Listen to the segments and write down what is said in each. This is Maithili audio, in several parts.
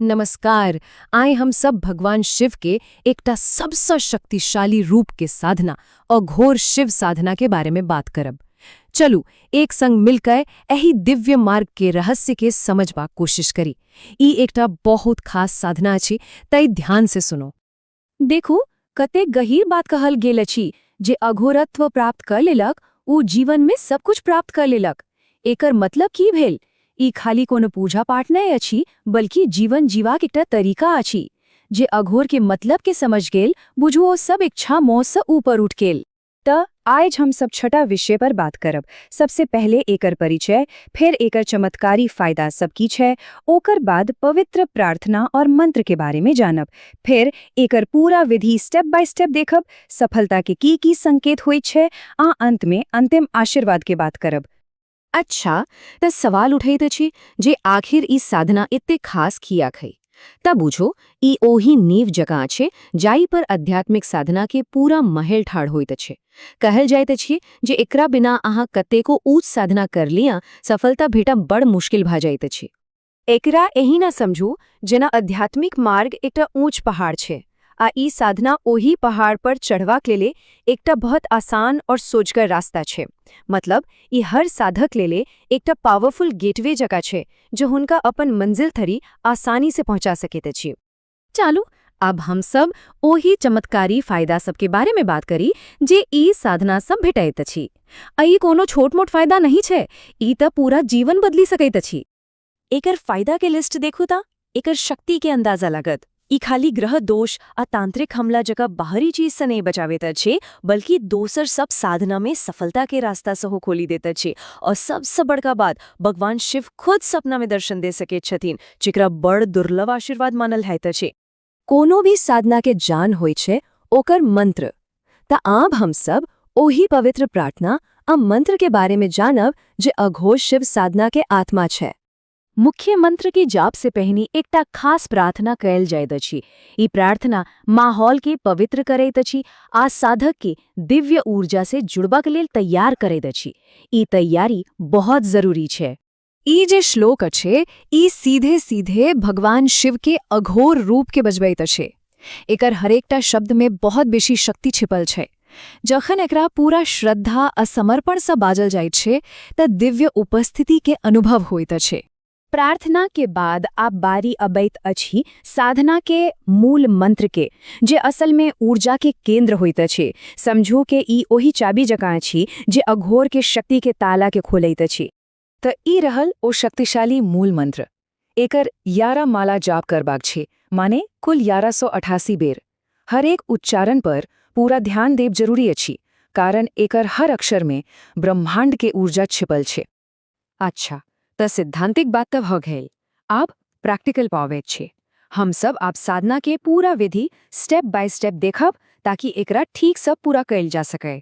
नमस्कार आइ हम सब भगवान शिव के एकटा सबसँ शक्तिशाली रूप के साधना और घोर शिव साधना के बारे में बात करब चलू एक संग मिलकर एहि दिव्य मार्ग के रहस्य के समझबा कोशिश करी ई एकटा बहुत खास साधना अछि तै ध्यान से सुनो देखू कते गहीर बात कहल गेल अछि जे अघोरत्व प्राप्त कर लेलक ओ जीवन में सब कुछ प्राप्त कर लेलक एकर मतलब की भेल ई खाली कोनो पूजा पाठ नहीं अछि बल्कि जीवन जीवाक एकटा तरीका अछि जे अघोर के मतलब के समझ गेल बुझू ओ सब इच्छा मौज से ऊपर उठ गेल त आज हम सब छठा विषय पर बात करब सबसे पहले एकर परिचय फिर एकर चमत्कारी फायदा सब की छै ओकर बाद पवित्र प्रार्थना और मंत्र के बारे में जानब फिर एकर पूरा विधि स्टेप बाय स्टेप देखब सफलता के की की संकेत होइत छै आ अंत में अंतिम आशीर्वाद के बात करब अच्छा त सवाल उठैत अछि जे आखिर ई साधना एते खास किया खै त बुझो ई ओही नीव जकाँ छै जाहि पर आध्यात्मिक साधना के पूरा महल ठाढ़ होइत अछि कहल जाइत अछि जे एकरा बिना अहाँ कतेको ऊँच साधना कर लिया सफलता भेटब बड़ मुश्किल भा जाइत अछि एकरा एहिना समझू जेना आध्यात्मिक मार्ग एकटा ऊँच पहाड़ छै आ ई साधना ओही पहाड़ पर चढ़बाक लेले एकटा बहुत आसान और सोचगर रास्ता छै मतलब ई हर साधक लेले एकटा पावरफुल गेटवे जका छै जो हुनका अपन मंजिल थरी आसानी से पहुंचा सकैत अछि चालू अब हम सब ओही चमत्कारी फायदा सबके बारे में बात करी जे ई साधना सब भेटैत अछि आ ई कोनो छोट मोट फायदा नहीं छै ई त पूरा जीवन बदली सकैत अछि एकर फायदा के लिस्ट देखू ता एकर शक्ति के अंदाजा लागत ई खाली ग्रह दोष आ तांत्रिक हमला जगह बाहरी चीज से नहीं बचावेत अछि बल्कि दोसर सब साधना में सफलता के रास्ता से हो खोली देत अछि और सबसे बड़का बात भगवान शिव खुद सपना में दर्शन दे सके छथिन जेकरा बड़ दुर्लभ आशीर्वाद मानल हैत अछि कोनो भी साधना के जान होइ छै ओकर मंत्र त आब हम सब ओही पवित्र प्रार्थना आ मंत्र के बारे में जानब जे अघोष शिव साधना के आत्मा छै मुख्य मंत्र के जाप से पहनी एकटा खास प्रार्थना कयल जाइत अछि ई प्रार्थना माहौल के पवित्र करैत अछि आ साधक के दिव्य ऊर्जा से जुड़बाक लेल तैयार करैत अछि ई तैयारी बहुत जरूरी छै ई जे श्लोक अछि ई सीधे सीधे भगवान शिव के अघोर रूप के बजबैत अछि एकर हरेकटा शब्द में बहुत बेसी शक्ति छिपल छै जखन एकरा पूरा श्रद्धा आ समर्पणसँ बाजल जाइत छै तऽ दिव्य उपस्थिति के अनुभव होइत अछि प्रार्थना के बाद आप बारी अबैत अछि साधना के मूल मंत्र के जे असल में ऊर्जा के केंद्र होइत अछि समझू के ई ओही चाबी जकाँ अछि जे अघोर के शक्ति के ताला के खोलैत अछि तऽ ई रहल ओ शक्तिशाली मूल मंत्र एकर यारा माला जाप करबाक छै माने कुल यारा सौ अठासी बेर हरेक उच्चारण पर पूरा ध्यान देब जरूरी अछि कारण एकर हर अक्षर में ब्रह्मांड के ऊर्जा छिपल छै अच्छा तऽ सिद्धांतिक बात तऽ भऽ गेल आब प्रैक्टिकल पावे छै हम सब आब साधना के पूरा विधि स्टेप बाय स्टेप देखब ताकि एकरा ठीक से पूरा कैल जा सके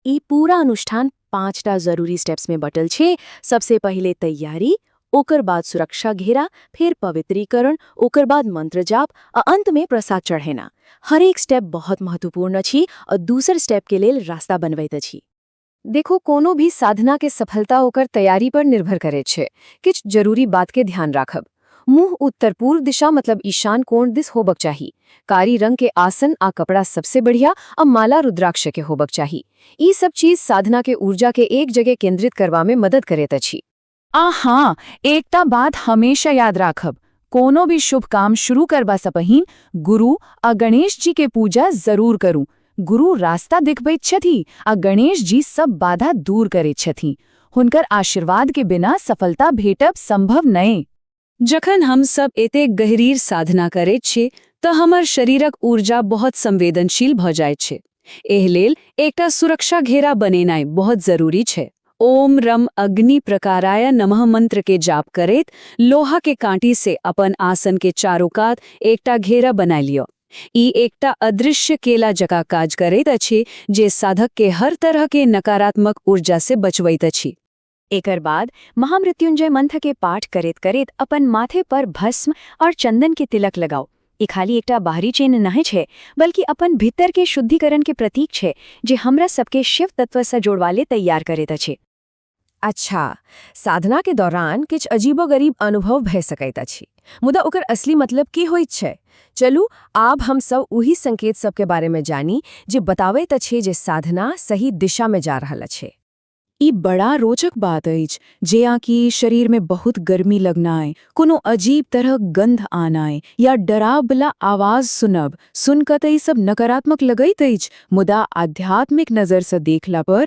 ई पूरा अनुष्ठान पाँचटा जरूरी स्टेप्स में बटल छे सबसे पहले तैयारी ओकर बाद सुरक्षा घेरा फिर पवित्रीकरण ओकर बाद मंत्र जाप आ अंत में प्रसाद चढ़ेना हर एक स्टेप बहुत महत्वपूर्ण अछि और दूसर स्टेप के लेल रास्ता बनबैत अछि देखो कोनो भी साधना के सफलता ओकर तैयारी पर निर्भर करे छे किछ जरूरी बात के ध्यान राखब मुंह उत्तर पूर्व दिशा मतलब ईशान कोण दिस होबक चाही कारी रंग के आसन आ कपड़ा सबसे बढ़िया आ माला रुद्राक्ष के होबक चाही ई सब चीज साधना के ऊर्जा के एक जगह केंद्रित करवा में मदद करैत अछि आ हाँ एकटा बात हमेशा याद राखब कोनो भी शुभ काम शुरू करबा से पहिन गुरु आ गणेश जी के पूजा जरूर करू गुरु रास्ता देखबैत छथि आ गणेश जी सब बाधा दूर करैत छथि हुनकर आशीर्वाद के बिना सफलता भेटब संभव नहि जखन हम सब एते गहरीर साधना करैत छी तऽ हमर शरीरक ऊर्जा बहुत संवेदनशील भऽ जाइत छै एहि लेल एकटा सुरक्षा घेरा बनेनाइ बहुत जरूरी छै ओम रम अग्नि प्रकाराय नमः मंत्र के जाप करैत लोहा के कांटी से अपन आसन के चारों कात एकटा घेरा बना लियो ई एकटा अदृश्य केला जकाँ काज करैत अछि जे साधकके हर तरहके नकारात्मक ऊर्जासँ बचबैत अछि एकर बाद महामृत्युंजय मंत्रके पाठ करैत करैत अपन माथे पर भस्म और चंदनके तिलक लगाउ ई खाली एकटा बाहरी चिन्ह नहि छै बल्कि अपन भीतरके शुद्धिकरणके प्रतीक छै जे हमरा सबके शिव तत्वसँ जोड़वाले तैयार करैत अछि अच्छा साधना के दौरान किछु अजीबोगरीब अनुभव भए सकैत अछि मुदा ओकर असली मतलब की होइत छै चलू आब हम सब ओही संकेत सबके बारे में जानी जे बताबैत अछि जे साधना सही दिशा में जा रहल अछि ई बड़ा रोचक बात अछि जे आकि शरीर में बहुत गर्मी लगनाय कोनो अजीब तरह गंध आनाय या डराबला आवाज सुनब सुनकत ई सब नकारात्मक लगैत अछि मुदा आध्यात्मिक नजर से देखला पर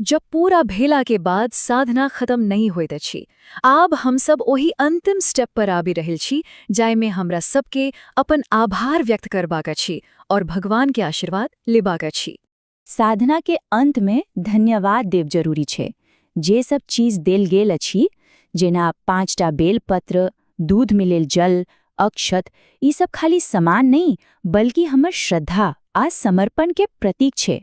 जब पूरा भेला के बाद साधना खत्म नहीं होइत अछि आब हमसब ओही अंतिम स्टेप पर आबि रहल छी जाहिमे हमरा सबके अपन आभार व्यक्त करबाक अछि और भगवान के आशीर्वाद लेबाक अछि साधना के अंत में धन्यवाद देव जरूरी छे जे सब चीज देल गेल अछि जेना पांचटा बेलपत्र दूध मिलेल जल अक्षत ई सब खाली समान नहीं बल्कि हमर श्रद्धा आ समर्पण के प्रतीक छे